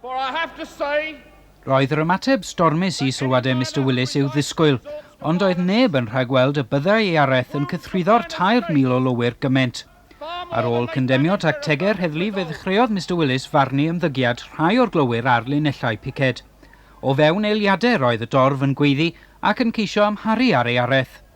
But I have to say, Roedd yr ymateb stormus i sylwadau Mister Willis i'w ddisgwyl, ond doedd neb yn rhagweld y byddai Iareth yn cythruddo'r 3,000 o lowyr gymaint. Ar ôl cyndemnio tactegau'r heddlu fe ddechreuodd Mister Willis farnu ymddygiad rhai o'r glowyr ar linellau piced. O fewn eiliadau roedd y dorf yn gweiddi ac yn ceisio amharu ar Iareth.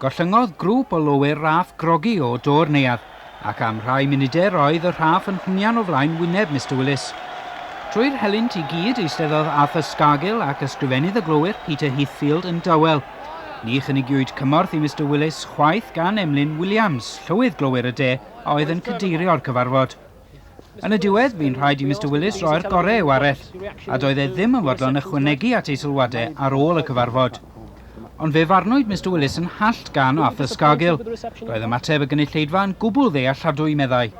Gollyngodd grŵp o lowyr Raff grogi o do'r neuadd, ac am rhai munudau roedd y Rhaff yn hwnian o flaen wyneb Mister Willis. Trwy'r helynt i gyd eisteddodd Arthur Scargill ac ysgrifennydd y glowyr Peter Heathfield yn dawel. Ni chynigiwyd cymorth i Mister Willis chwaith gan Emlyn Williams, llywydd glowyr y de a oedd yn cadeirio'r cyfarfod. Yn y diwedd, bu'n rhaid i Mister Willis roi'r gorau i'w arell, a doedd e ddim yn fodlon ychwanegu at ei sylwadau ar ôl y cyfarfod. Ond fe farnwyd Mister Willis yn hallt gan Arthur Scargill. Roedd ymateb y gynulleidfa yn gwbl ddealladwy, meddai.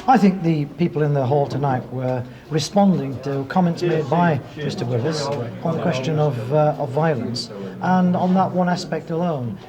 I think the people in the hall tonight were responding to comments made by Mister Willis on the question of, uh, of violence, and on that one aspect alone.